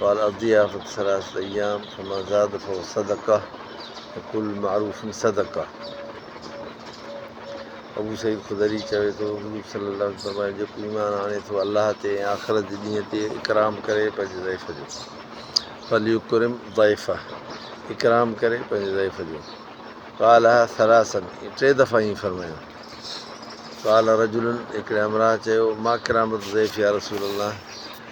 قال اضياف ثلاثه ايام فما زاد فهو صدقه وكل معروف صدقه ابو سعيد خدري چوي ٿو حضور صلي الله عليه وسلم جيڪو ايمان آڻي ٿو الله تي ۽ آخرت جي ڏينهن تي اڪرام ڪري پنهنجي ضعيف جو فليڪرم ضعيفه اڪرام ڪري پنهنجي ضعيف جو قال ثلاثن ٽي دفعا ائين فرمايو قال رجلن هڪڙي امرا چيو ما ڪرامت ضعيف يا رسول الله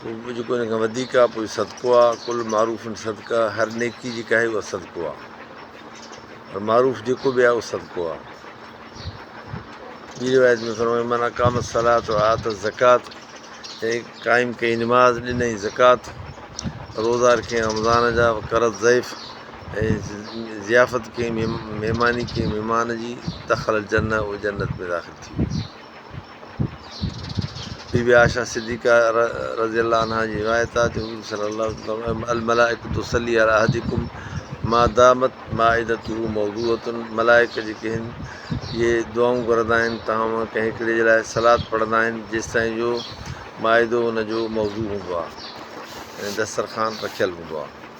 ڪجهه به جيڪو ان کان وڌيڪ آ پوء صدقو آ، ڪل معروف صدقه هر نيڪي جيڪا آهي اها صدقو آ پر معروف جيڪو به آهي اهو صدقو آ. ٻي روايت ۾ فرمايو من اقام الصلاة و آت الزڪات جنهن قائم ڪئي نماز ڏنئي زڪات روزا رکيائين رمضان جا وقرت ضيف ۽ ضيافت ڪيائين مهماني ڪيائين مهمان جي دخل الجنه اهو جنت ۾ داخل ٿي ويو. بي بي عائشه صديقه رضي الله عنها جي روايت آهي ته حضور صلي الله عليه وسلم فرمايو الملائڪة تصلي علي احدڪم ما دامت مائدته موضوعة ملائڪ جيڪي هن اهي دعائون گهرندا آهن توهان مان ڪنهن هڪڙي جي لاء صلات پڙهندا آهن جيستائين جو مائدو ان جو موضوع هوندو آهي يعني دسترخوان رکيل هوندو آهي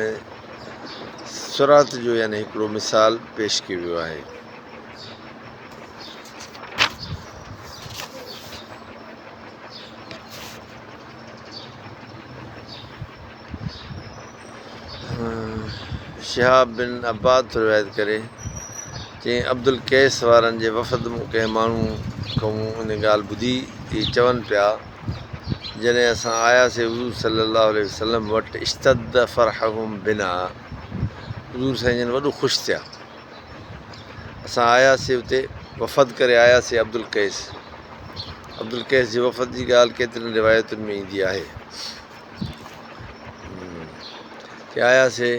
۽ صراط جو يعني هڪڙو مثال پيش ڪيو ويو آهي. شهاب بن عباد ٿو روايت ڪري چين عبدالقيس وارن جي وفد مون ڪنهن ماڻهو کان مون ان ڳالهه ٻڌي چون پيا جڏهن اسان آياسين حضور صلي الله عليه وسلم وٽ اشتد فرحهم بنا حضور سائين جن وڏو خوش ٿيا. اسان آياسين اتي وفد ڪري آياسين عبدالقيس عبدالقيس جي وفد جي ڳالهه ڪيترين روايتن ۾ ايندي آهي ڪي آياسين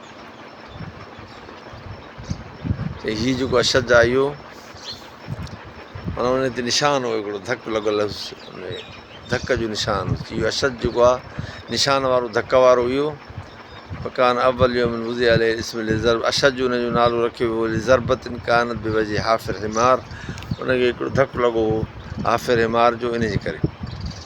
ته هي جيڪو اشد آيو معنيٰ ان تي نشان هو هڪڙو ڌڪ لڳل هيس ان ڌڪ جو نشان هيس اهو اشد جيڪو آ نشان وارو ڌڪ وارو هيو مڪان اول يوم وضع علي اسم لزر اشد جو ان جو نالو رکيو ويو لزربت انڪانت بي وجه حافر حمار ان کي هڪڙو ڌڪ لڳو هو حافر حمار جو ان جي ڪري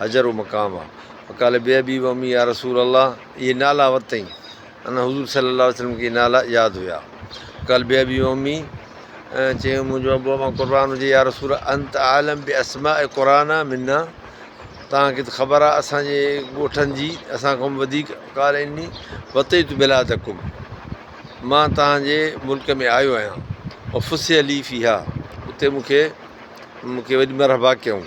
حجر و مقام آ فقال بي ابي و امي يا رسول الله اهي نالا ورتئين ان حضور صلي الله عليه وسلم کي نالا ياد هيا فقال بي ابي و امي چيو منهنجو ابو امان قربان هجي يا رسول الله انت عالم بي اسماء قرانا منا تان کي ته خبر آ اسان جي ڳوٺن جي اسان کان وڌيڪ قال اني وتيت بلادڪم مان تان جي ملڪ ۾ آيو آهيان وفسي علي فيها اتي مون کي مون کي وڏي مرحبا ڪيائون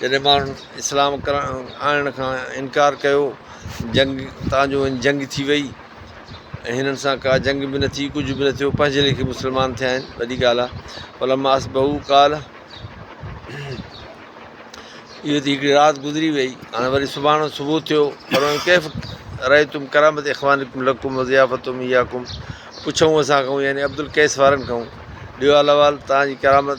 جڏهن ماڻهن اسلام آڻڻ کان انڪار ڪيو جنگ تان جو هن جنگ ٿي وئي ۽ هنن سان ڪا جنگ به نه ٿي ڪجهه به نه ٿيو پنهنجي ليکي مسلمان ٿيا آهن وڏي ڳالهه آهي فلما اصبحو قال اهو ته هڪڙي رات گذري وئي هاڻي وري سڀاڻو صبح ٿيو پر ڪيف رهي تم ڪرامت اخوان لقم ضيافت اياڪم پڇو اسان کان يعني عبدالقيس وارن کان ڏيو احوال تان جي ڪرامت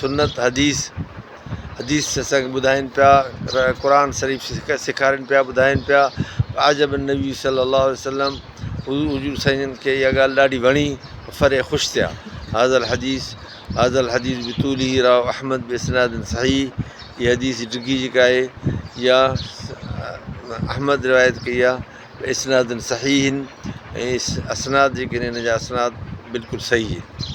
سنت حديث حديث سڪ ٻڌائين پيا قرآن شريف سڪ سيکارين پيا ٻڌائين پيا عجب النبي صلّي الله عليه وسلّم حضور حضور سائين جن کي اها ڳالهه ڏاڍي وڻي فرح خوش ٿيا هذا الحديث هذا الحديث بطوله راء احمد باسناد صحيح هي حديث ڊگهي جيڪا آهي يا احمد روايت ڪئي آهي باسناد صحيح ۽ اسناد جيڪي آهن ان جا اسناد بلڪل صحيح آهن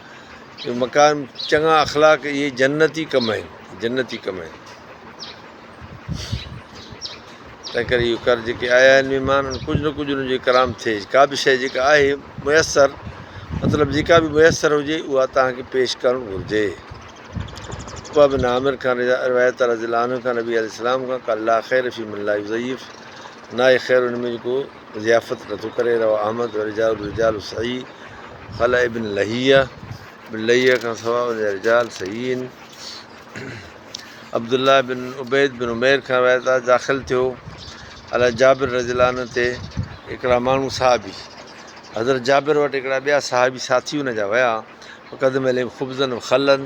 اهي مڪارم، چڱا اخلاق، اهي جنتي ڪم آهن، جنتي ڪم آهن. تنهن ڪري اهو ڪر، جيڪي آيا آهن مهمان، ان ڪجهه نه ڪجهه انهن جو اڪرام ٿئي. ڪا به شيء جيڪا آهي ميسر، مطلب جيڪا به ميسر هجي، اها توهان کي پيش ڪرڻ گهرجي. عقبه بن عامر کان روايت آهي رضي الله عنه کان نبي عليه السلام کان قال لا خير في من لا يضيف، ناهي خير ان ۾ جيڪو ضيافت نٿو ڪري، رواه احمد ورجال الرجال صحيح، خلع ابن لهيه، ابن لهيه کان سواء ان جا رجال صحيح آهن، عبدالله بن عبيد بن عمير کان روايت آهي داخل ٿيو علي جابر رضي الله عنه تي هڪڙا ماڻهو صحابي حضرت جابر وٽ هڪڙا ٻيا صحابي ساٿي ان جا ويا قدم عليم خبزن و خلن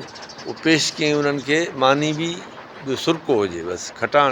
هو پيش ڪيائين انهن کي ماني به ٻيو سرڪو هجي بس کٽاڻ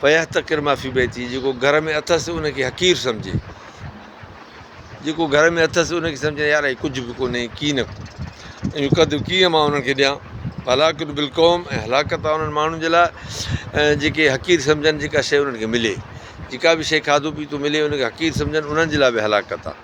فيحتقر ما في بيته جيڪو گهر ۾ اٿس ان کي حقير سمجهي جيڪو گهر ۾ اٿس ان کي سمجهي يار هي ڪجهه به ڪونهي ڪي نه ڪو قد ڪيئن مان انهن کي ڏيان هلاڪت بالقوم ۽ هلاڪت انهن ماڻهن جي لاء جيڪي حقير سمجهن جيڪا شيء انهن کي ملي جيڪا به شيء کاڌو پيتو ملي ان کي حقير سمجهن انهن جي لاء به هلاڪت آهي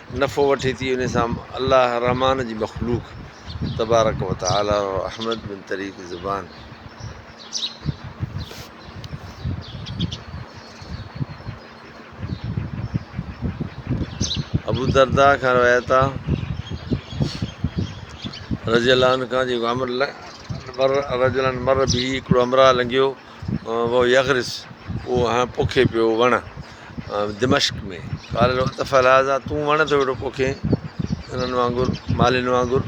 نفعو وٺي ٿي انهي سان الله الرحمان جي مخلوق تبارڪ وتعالي ۽ احمد بن طريق زبان ابو دردا کان روايت آ رضي الله عنه کان جي عمر رجلن مر به هڪڙو همراهه لنگهيو وهو يغرس اهو هنئن پوکي پيو وڻ دمشق ۾، قال العتف الهذا تون وڻ ٿو اهڙو پوکين انهن وانگر مالين وانگر،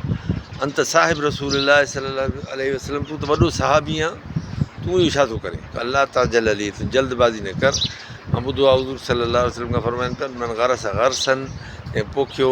انت صاحب رسول الله صلي الله عليه وسلم تون ته وڏو صحابي آن تون اهو ڇا ٿو ڪرين، قال لا تعجل لي تون جلد بازي نه ڪر، مان ٻڌو آهي حضور صلي الله عليه وسلم کان فرمائن پيا من غرس غرسا جنهن پوکيو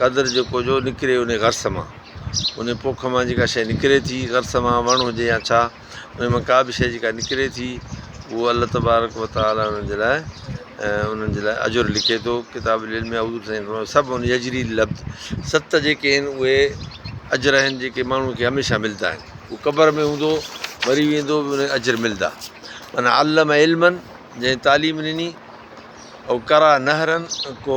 قدر جو ڪوجو نڪري انهي غرس مان. انهي پوک مان جيڪا شيء نڪري ٿي، غرس مان، وڻ هجي يا ڇا، انهي مان ڪا به شيء جيڪا نڪري ٿي، اهو الله تبارڪ و تعاليٰ انهن جي لاء انهن جي لاء اجر لکي ٿو. ڪتاب العلم ۾ حضور سائين فرمايو، سبع يجري العبد ست جيڪي آهن اهي اجر آهن جيڪي ماڻهوء کي هميشه ملدا آهن. هو قبر ۾ هوندو، مري ويندو به انهي اجر ملدا. من علم علما جنهن تعليم ڏني، او قرع نهرا ڪو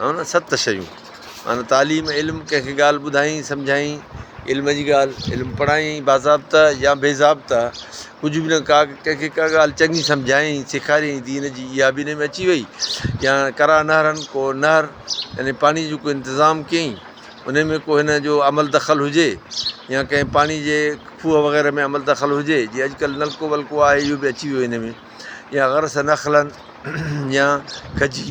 هن ست شيون معنيٰ تعليم، علم، ڪنهن کي ڳالهه ٻڌائين، سمجهائين، علم جي ڳالهه، علم پڙهائين، باضابطه يا بي ضابطه، ڪجهه به نه ڪا ڪنهن کي ڪا ڳالهه چڱي سمجهائين، سيکاريائين دين جي، اها به ان ۾ اچي وئي يا قرا نهرن ڪو نهر يعني پاڻي جو ڪو انتظام ڪيائين، ان ۾ ڪو هن جو عمل دخل هجي يا ڪنهن پاڻي جي کوهه وغيره ۾ عمل دخل هجي جي اڄ ڪلهه نلڪو ولڪو آهي اهو به اچي ويو هن ۾ يا غرس نخلن يا کجي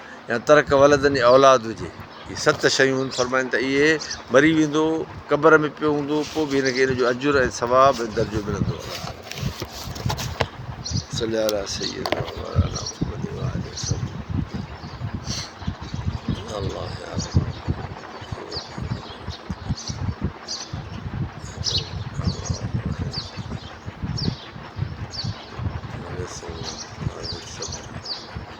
يا ترڪ ولدن يا اولاد هجي. هي ست شيون فرمائن ته اهي مري ويندو قبر ۾ پيو هوندو پوء به هن کي ان جو اجر ۽ ثواب ۽ درجو ملندو الله تعالي صلي علي سيدنا مولانا محمد وآله وسلم الله يا رب